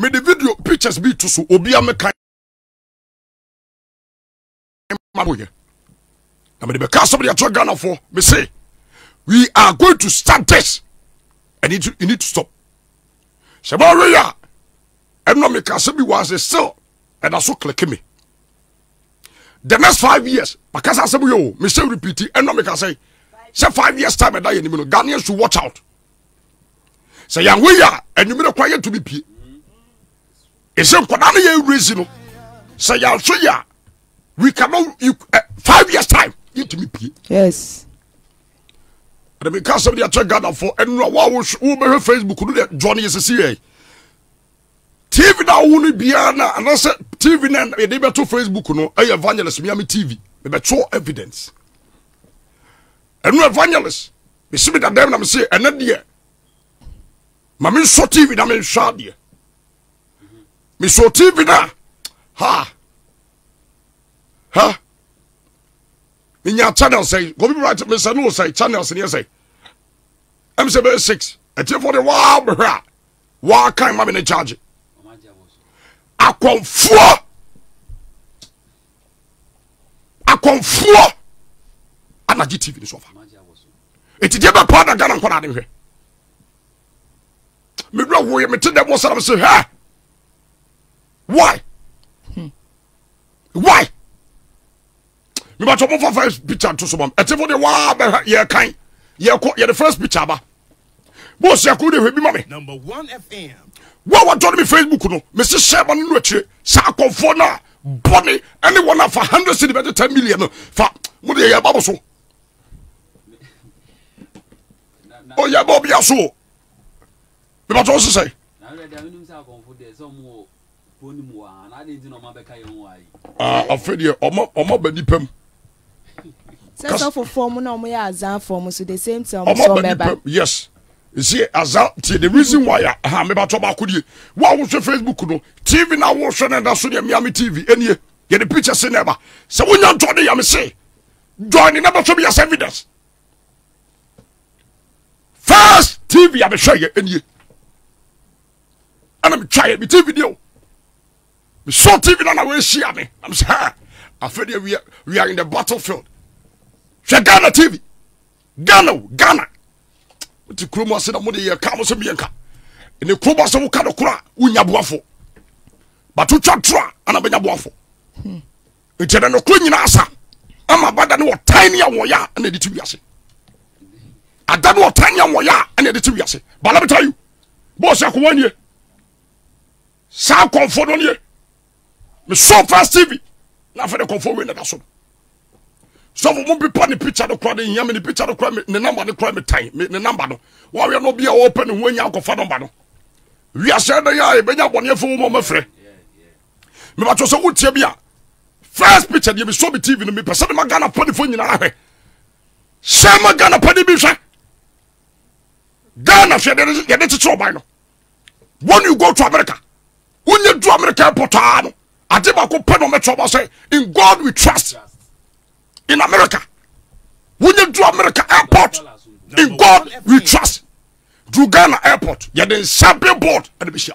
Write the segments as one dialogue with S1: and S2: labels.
S1: mede video pictures bi to so obia meka ma boyɛ na mede bɛka asɛm de akyerɛ ghanafoɔ me se we are going to start this and it, it need to stop sɛ bɛweyɛ a ɛnɔ meka asɛm bi wɔ ase still ɛda so click me the next five years makasa asɛm yɛ o mesɛ repeat ɛnɔ meka sɛ sɛ five years time ɛda yɛ anim no ghanaians should watch out sɛ yɛanwe yɛ a anwummerɛ kwan yɛntumi pie ɛsɛ nkwadaa no yɛ resi no sɛ yɛanhwɛ yɛ a we cannot you, uh, five years time yɛntumi pie yes ɛna meka asɛm de akyɛ ghanafoɔ ɛno a woa wobɛhwɛ facebook no deɛ john yɛ sɛsi yɛ tv no awo no biara no anaasɛ tv no yɛde bɛto facebook no ɛyɛ evangelist miami tv mebɛtwerɛ evidence Ɛno evangelist mesi me dadaam na mese ɛnɛ deɛ ma me nsɔ tv na me nhwɛ adeɛ mesɔ tv na ha ha menya channel sɛ gobi right mesɛ no sɛ channels neɛ sɛ ɛm sɛ bɛyɛ six atiefoɔ de waa bɛhwɛ a waa kan ma me ne charge akɔmfoɔ akɔmfoɔ ana gye tv no so ɔfa ɛti deɛ bɛpaa na ghana nkɔda ne hwɛ medura woyɛ mete dɛ bɔ saram se hɛ why hmm. why mebatɔ mofa first picture nto so mam ɛtefo deɛ waa bɛhwɛ yɛkan yɛkɔ yɛde first picture ba bɔ ɔsɛ akoro de hwɛ bi ma me wo a wɔtɔ no me facebook no mese hyɛ ma no no akyire saa akɔmfoɔ no a bɔne ɛne wɔn afa 100 cedi bɛde 10 million no fa mode yɛyɛ ba mo so ɔyɛ ba obia so mebatɔ wo sesɛ afe deɛ ɔma ba nipa mu sɛ sɔfofoɔ mu na ɔmo yɛ azanfoɔ mu so the same thing ɔmo sɔ mɛba yes ɛsi aza tie the reason why a ha mebatɔ baako die wo a wohwɛ facebook no tv na wohwɛ no ɛda so deɛ meame tv ɛnie yɛde picture se na ɛba sɛ wonya ntɔ de yame se join ne na bɛhwɛ bi as evidence first tv a mehwɛ yɛ ɛnie ɛna metwaeɛ me tv deɛ o mesɔɔ tv no na wɔahyia me na mesɛ ha afei deɛ we are, we are in the battlefield hwɛ ghana tv ghana o ghana nti kurom ase na mode yɛka mo sɛ meyɛnka ne kurom ase woka no kora wonya boafo but wotwa toro a ana bɛnya boafo hmm. nti ɛdɛ nokoro nyina asa ama bada ne wɔtan ne awɔyɛ a ɛna ɛde te wiase ada ne wɔtan ne awɔyɛ a ɛna ɛde te wiase but let me tell you bɔɔsi akɔwa nie saa kɔnfo no nie mesɔ first tv na afɛ de kɔnfo wei na da so sɔfo mu pepa ne picture no kora ne hia me ne picture no kora me ne namba no kora me tan me ne namba no wɔawɛ no bi a wɔpɛ ne ho anya akɔfa namba no wiase ɛdɛ yɛ a ɛbɛnya bɔneɛfo wo ma ɔmɛfrɛ mebatɔ sɛ wotia bi a first picture deɛ mesɔ me tv no mepɛ sɛ mema ghana pɔdefoɔ nyinaa hwɛ hyɛ ma ghana pɔde bi hwɛ ghana hwɛ yɛde kyekyere ɔban no when you go to america wonyɛ du america airport aa no ade baako pɛ na ɔmɛkyerɛ ɔba sɛ in god we trust in america wonyɛ du america airport in god we trust du ghana airport yɛde nsa billboard ɛde bɛhyia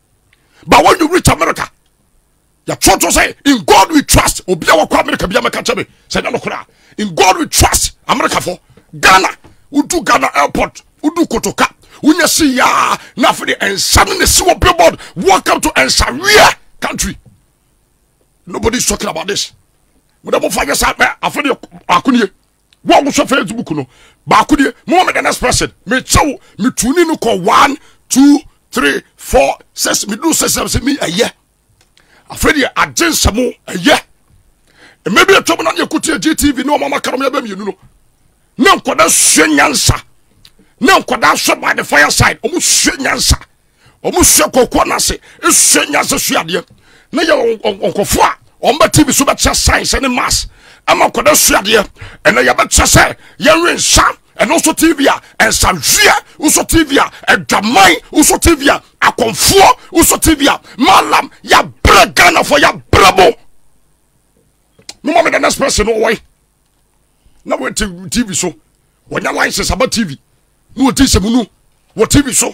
S1: ba wɔn nyɛ rich america yɛtwerɛ to sɛ in god we trust obi a wɔkɔ america bi amɛka kyɛ me sɛ nyɛ nokorɛ a in god we trust america fo ghana wodu ghana airport wodu kotoka wonya si yaa na afei de ɛnsa no na si wɔ billboard welcome to ɛnsaweɛ country nobody is talking about this mo dɛ mo fa nyɛ saa mɛ afei de akonie Wo a wohwɛ Facebook no, baako deɛ, moma me the next person. Mekyɛ wo, metuni no kɔ one, two, three, four, six. Meduru six sɛ sɛ me ɛyɛ. Afei deɛ agye nsɛm ɛyɛ. Mmɛ bi atwam na ne ɛkotie GTV ne ɔmama karom yɛbɛ mmienu no. Ne nkɔda sua nyansa. Ne nkɔda sua by the fireside. Ɔmo sua nyansa. wɔn sua kɔkɔɔ no ase sua nyansa sua adeɛ na yɛ nkɔfoɔ a wɔn bɛ tv so bɛkyerɛ science ne mass ɛma nkɔda sua adeɛ ɛnna yɛbɛkyerɛ sɛ yɛnwe nsa ɛno nso tv a nsanhweɛ nso tv a adwaman nso tv a akɔnfoɔ nso tv a malam yɛabrɛ ghanafoɔ yɛabrɛ mo no ma me the next person no wɔe na wɔte tv so wɔnya license aba tv na wɔdi sɛ mu no wɔ tv so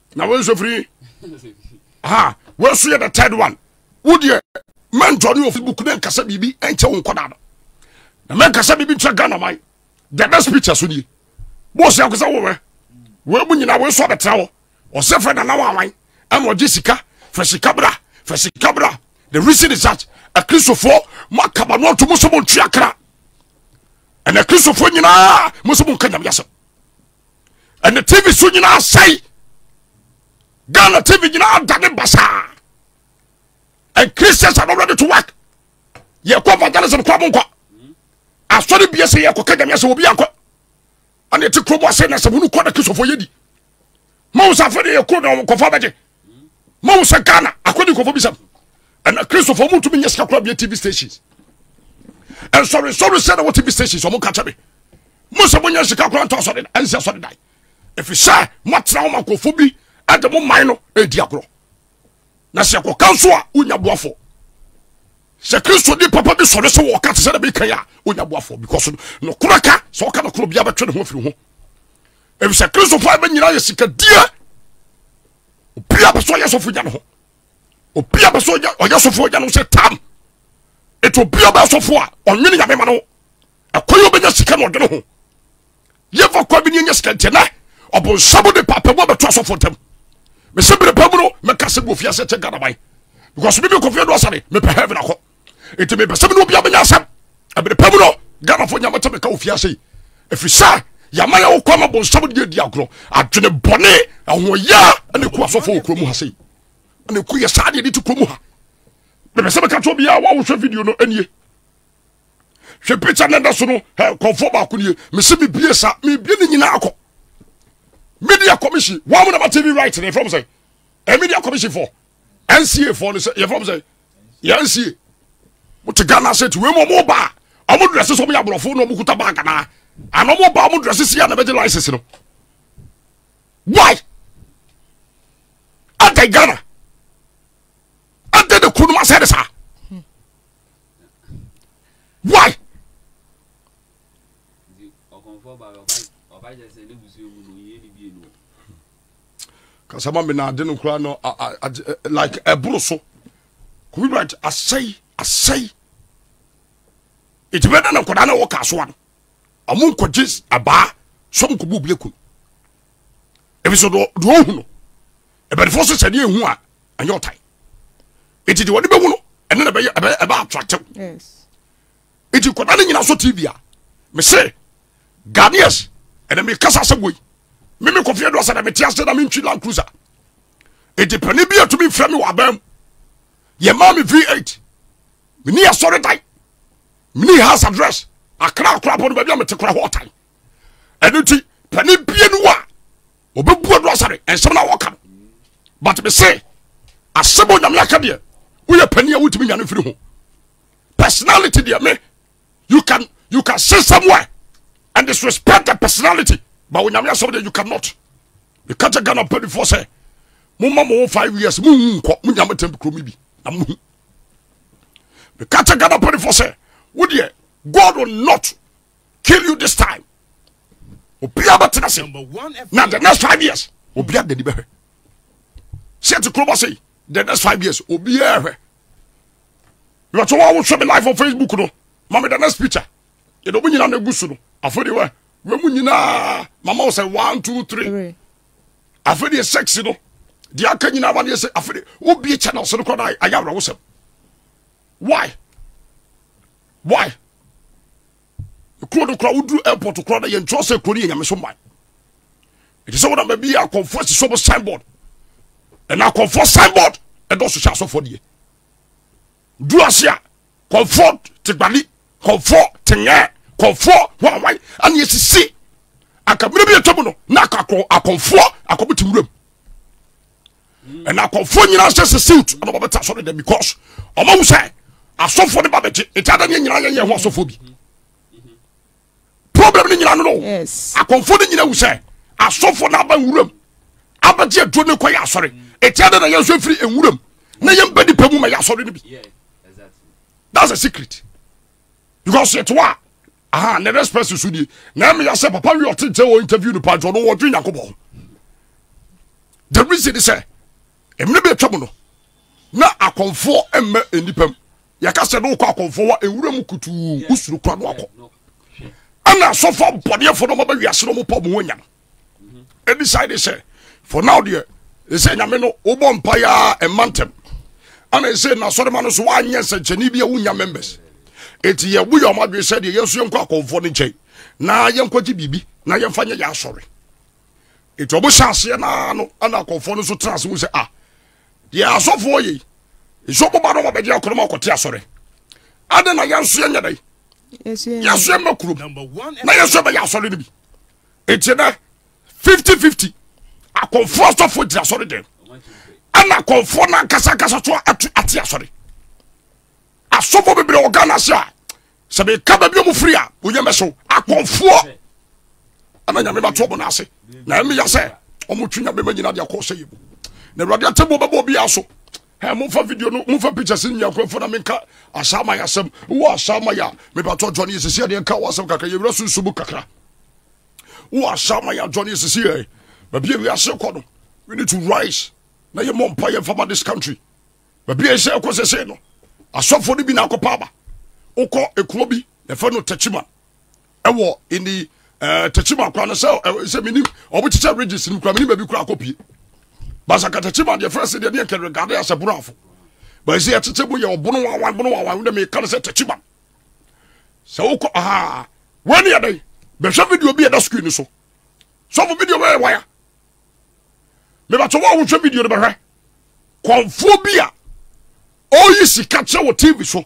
S1: na wo nso firi ha wɔso yɛ the third one wo deɛ mɛntɔ ne ofi book ne nkasa biribi ɛnkyɛ wo nkɔda no na mɛnkasa biribi nkyɛ ghana man the next picture so nie bɔɔsi akɔsɛ wowɛ wɔn mu nyinaa wɔn so abɛtena hɔ ɔsɛ fɛ nana wɔn awan ɛna ɔgye sika fɛ sika bra fɛ sika bra the reason is that akristofoɔ mo akaba no ɔto mo so mo ntua kra ɛna akristofoɔ nyinaa mo so mo nka nyame asɛm ɛne tv so nyinaa sɛe ghana tv nyinaa da ne basaa and christians are not ready to work yɛkɔ evangelism kɔ mo nkɔ asɔre bia sɛ yɛkɔ ka nyame asɛ obi ankɔ ɛne ɛte kurom ase na sɛ munu kɔ na kristofo yɛdi ma wo sɛ afei de yɛkuro na wɔkɔfa bɛgye ma wo sɛ ghana akɔdi nkɔfɔ bisam ɛna kristofo ɔmo ntumi nyɛ sika kora bia tv stations ɛnsɔre nsɔre sɛ na wɔ tv stations ɔmo nka kyɛ me mo sɛ monyɛ sika kora ntɔ asɔre ɛnsɛ asɔre dan ɛfiri sɛ moatena wo ma nkɔfo bi ɛde mo man no ɛdi agorɔ na sɛ ɛkɔka nso a wonya boafo sɛ kristo di papa bi sɔre sɛ wɔka te sɛ na bɛkan a wonya boafo because nokorɛ ka sɛ ɔka nokorɛ bia bɛtwe ne ho afiri ho efisɛ kristofo a ɛbɛnyina yɛ sikadie obi a bɛ so ɔyɛ sɔfo gya ne ho obi a bɛ so ɔyɛ sɔfo gya ne ho sɛ tam etu obi a bɛ sɔfo a ɔnwene nyame ma no ɛkɔ yɛ ɔbɛnya sika na ɔde ne ho yɛfa kɔ bi ne ɛnyɛ sika ntiɛ nɛ ɔbonsam de paapɛ mu abɛto asɔfo ntam mesɛ bere pa mu no mɛka sɛ bofie asɛ kyɛ gadaban because bibi kɔfie do asane mepɛ heaven akɔ nti mepɛ sɛ mene obia bɛnya asɛm ɛbere pa mu no ghanafoɔ nyama kyɛ meka ofie ase ɛfiri sɛ yɛama yɛ wokɔ ma bonsam deɛ di agorɔ adwene bɔne ahoɔyaa ne ku asɔfoɔ wɔ kurom ha sei ne ku yɛ saa deɛ de te kurom ha mepɛ sɛ meka kyɛ obiaa woawohwɛ video no ɛnie hwɛ picture no da so no kɔmfoɔ baako nie mese mebie sa mebie ne nyinaa kɔ media commission wɔn mu na ma tv right ne fam sɛ eh, media commission fɔ nca fɔ no sɛ yɛfrɛ m sɛ yɛnsie wote ghana sɛ ti wei mu ɔmo ba a ɔmo drɛse sɛ ɔmo yɛ aborɔfo na ɔmo kuta bag anaa ana ɔmo ba ɔmo drɛse si a na bɛgye license no why adɛn ghana adɛn na kuro no asɛ ne saa why ɔkɔmfɔ ba ɔba ɔba yɛ sɛ ne busua mu no yɛ ne bie no kasa ma me na ade no koraa no like ɛboro so kobi brant asɛe asɛe nti bɛda na nkɔdaa na ɛwɔ kaa soa no ɔmo nkɔgye abaa sɛ ɔmo kɔbu bile kun ebi so deɛ ɔhu no ɛbɛdefoɔ so sɛ deɛ ehu a ɛnyɛ ɔtan nti deɛ wɔde bɛhu no ɛno na ɛbɛyɛ ɛbɛ ɛbɛ atratɛw nti nkwadaa no nyina so tv a mese ghanaians ɛna mekasa sɛ wei me me kɔfeɛ do asɛ na mete ase na mentwi land cruiser nti pane bi atumi mfrɛ me wɔ abaa mu yɛmaa me v8 meni asɔre dan meni house address akra akora bɔ no baabi a mete kora hɔ ɔtan ɛno nti pane bie no a ɔbɛbua do asɛ no ɛnsɛm no a wɔka no but mese asɛm onyame aka deɛ woyɛ pani a wotumi nyane mfiri ho personality deɛ me you can you can sit somewhere and disrespect the personality but onyame asɛm deɛ you cannot meka kyɛ ghana mpanifoɔ sɛ momma mo wo five years monwu nkɔ monya motɛm kuro mi bi na mohu meka kyɛ ghana mpanifoɔ sɛ wo deɛ god will not kill you this time obia bɛtena se na the next five years obia dani bɛhwɛ sɛ te kurobɔ sei the next five years obiara hwɛ yɛtɔ wɔn wohwɛ me live on facebook no ma me the next picture yɛde ɔmo nyinaa na egu so no afei de wɛ wɛ mu nyinaa mama wɔ sɛ one two three afei de sex no deɛ aka nyinaa ma ne yɛ sɛ afei de wobie channel so no kɔ na ayɛ awerɛwosɛm why why. kuro no koraa woduru airport koraa na yɛn kyerɛ sɛ kuro no yɛ nyameso man ɛte sɛ wonam baabi yɛ akɔmfoɔ asi sɔm signboard ɛna akɔmfoɔ signboard ɛdɔso hyɛ asɔfoɔ deɛ duru ase a kɔmfoɔ tegbali kɔmfoɔ tengɛ kɔmfoɔ hwanwan ɛne ɛsisi akaberɛ bi ɛtwa mu no na akɔmfoɔ akɔbete wuram ɛna akɔfoɔ nyinaa sɛ sɛ siwt ɛna wɔbɛte asɔre dɛ because ɔmahu sɛ asɔfoɔ no ba bɛgye nti ada ne nyinaa yɛyɛ ho asɔfoɔ bi problem no nyina no no akɔmfo no nyina wu sɛ asɔfo no aba nwuram abɛgye aduro no kɔyɛ asɔre ɛtia dɛ na yɛnso afiri nwuram na yɛmba nipa mu ma yɛ asɔre no bi that's a secret because yɛte hɔ a aha ne respect so die na ɛmi ya sɛ papa wi ɔte nkyɛn wɔ interview no paadwa ɔno wɔdwe nyako bɔ the reason is sɛ mmiri bi atwa mu no na akɔnfoɔ mmɛ nnipa mu yɛka sɛ ne wokɔ akɔnfoɔ wa ewura mu kutuu wosoro kura no akɔ ɛna asɔfo abɔdeɛfo no ɔmaba wiase no ɔmopɔ ɔmo wɔ nyam ɛdecide sɛ for now deɛ ɛsɛ nyame no wobɔ mpa yɛ a ɛma ntɛm ana ɛsɛ nasɔrema no so woanyɛ nsɛnkyɛne bi a wonya members ɛti yɛbo yɛ ɔma adwene sɛ deɛ yɛnso yɛnkɔ akɔmfoɔ no nkyɛn na yɛnkɔgye biribi na yɛmfa nyɛ yɛ asɔre ɛti ɔbo hyɛ aseɛ naa no ana akɔmfoɔ no so tena ase mu sɛ ah deɛ asɔfoɔ yei nso boba no wɔbɛgye akɔnɔ ma ɔkɔte asɔre ade na yɛnso yɛnyɛ dɛn yɛso yɛma kurom na yɛso yɛbɛyɛ asɔre no bi nti nɛ fifty fifty akɔnfoɔ asɔfoɔ gyina asɔre dɛm ɛna akɔnfoɔ no ankasa ankasa so ato ate asɔre asɔfoɔ bebree wɔ ghana ase a sɛ meka baabi ɔmo firi a onyɛ mɛso akɔnfoɔ ɛna nyame bato ɔmo no ase na ɛmeya sɛ ɔmo twe nyame ma nyina de akɔ sɛ yɛ mu na awurade atɛmu ɔbɛbɔ obiara so Hey, momfa video no momfa pictures no nyankorɔfoɔ na menka asaama yɛ asɛm wowɔ asaama yɛ a mebatɔ adwane yɛ sisi adeɛ nka wɔ asɛm kakra yɛwura sunsu mu kakra wowɔ asaama yɛ adwane yɛ sisi ɛ baabi a wiase kɔ no we need to rise na yɛmmɔ mpa yɛmfa ma this country baabi a ɛsɛ ɛkɔ sɛsɛ no asɔfoɔ no bi na akɔpa aba wokɔ ɛkuo bi yɛfɛ no tachiman ɛwɔ in the ɛɛ tɛkyima kwan no sɛ ɛɛ sɛ mini ɔmo kyekyɛ ridges no kura mini baabi kura akɔ pie basaka tɛkyima deɛ fɛn se deɛ deɛ nkɛrɛ gade asɛ bono afo bɛsi ɛkyekyɛ mu yɛ ɔbono wawan bono wawan wo dɛ mi kan sɛ tɛkyima sɛ wokɔ aa wɔn ni ɛdɛ bɛhwɛ video bi ɛda screen so sɔfo video bɛyɛ waya mɛbatɔ wɔn a wɔhwɛ video no bɛhwɛ kɔnfoɔ bi a ɔyi sika kyɛ wɔ tv so.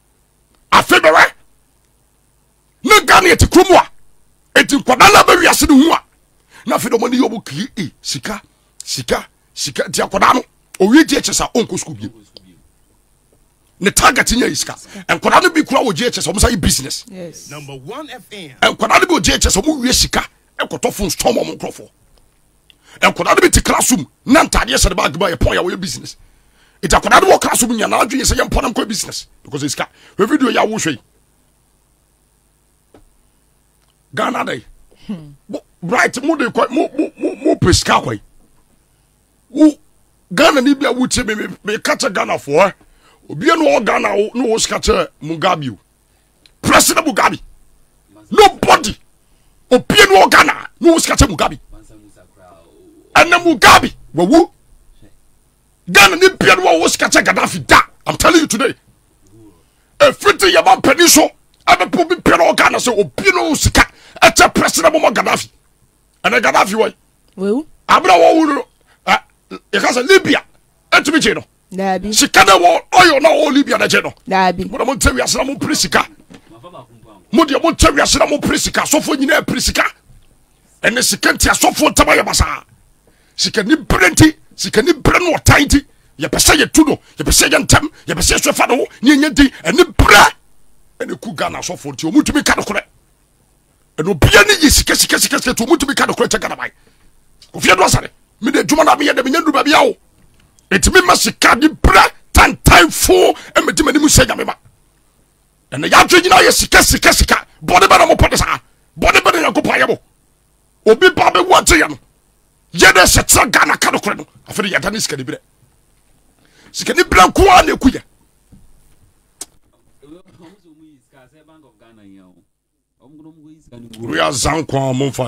S1: afe bɛwɛ na ghana yɛte kuro mu a ɛti nkwadaa no abɛwiase no hu a na afei dɔmɔ ne yɛ ɔmo kii e sika sika sika nti akwadaa no ɔwie gye kyɛ sa ɔnkɔ sukuu bio ne target nyɛ yi sika nkwadaa no bi kura wɔ gye kyɛ sa ɔmo sa yɛ business nkwadaa no bi wɔ gye kyɛ sa ɔmo wie sika ɛkɔtɔ fon stɔm ɔmo nkorɔfoɔ nkwadaa no bi te class room na ntaadeɛ hyɛ ne baage mu a yɛpɔn yɛ wɔyɛ business nti akwadaa no wɔ class room nyinaa adwene sɛ yɛmpɔn nam kɔ business because esika hwɛ video yɛ awohwɛ yi ghana dɛ bright mo de kɔ mo mo mo mo pɛ sika kɔ yi wo ghana ni bi a wotie me me ka kyɛ ghana foɔ ɛ obiara na ɔwɔ ghana ne wɔ sika kyɛ mugabe o President Mugabe. Nobody. Obie no Ghana. No was catching Mugabe. And then Mugabe. Wawu. Ghana ni bia no was catching Gaddafi da. I'm telling you today. Everything your man penny so. Ebe po bi pere o Ghana se obie no sika. Ete president mo Gaddafi. And then Gaddafi wai. Wawu. Abra wawu no. Yɛka sɛ Libya. Etimi kye no. daabi sika na wɔ ɔyɔ na ɔwɔ libya na gye no daabi mo na mo ntɛ wiase na mo mpere sika mo deɛ mo ntɛ wiase na mo mpere sika asɔfoɔ nyinaa pere sika ɛne sika nti asɔfoɔ ntɛm ayɛ basaa sika ni bere nti sika ni bere no ɔtan nti yɛpɛ sɛ yɛtu no yɛpɛ sɛ yɛ ntɛm yɛpɛ sɛ yɛsɛ fa no ho ne ɛnyɛ din ɛne berɛ ɛne ku ghana asɔfoɔ nti ɔmutumi ka nokorɛ ɛna obia ne yɛ sika sika sika sika tumu tumi ka nokora kyɛ gana ban ofie do asare mede adwuma no meyɛ dɛ menya ndu baabi awo ɛti mema sika de berɛ tantanfo mɛdi m'anim sɛ nyame ma ɛna yɛadwe nyina yɛ sika sika sika bɔne bɛ na mopɛ de saa bɔne bɛ na nyankopɔn ayɛ mo obi ba bɛwu agyeɛ no yɛdɛ sɛ tera ghana ka nokorɛ no afei de yɛda ne sikani berɛ sikani berɛ nko a na ɛku yɛ Wia zankwa a momfa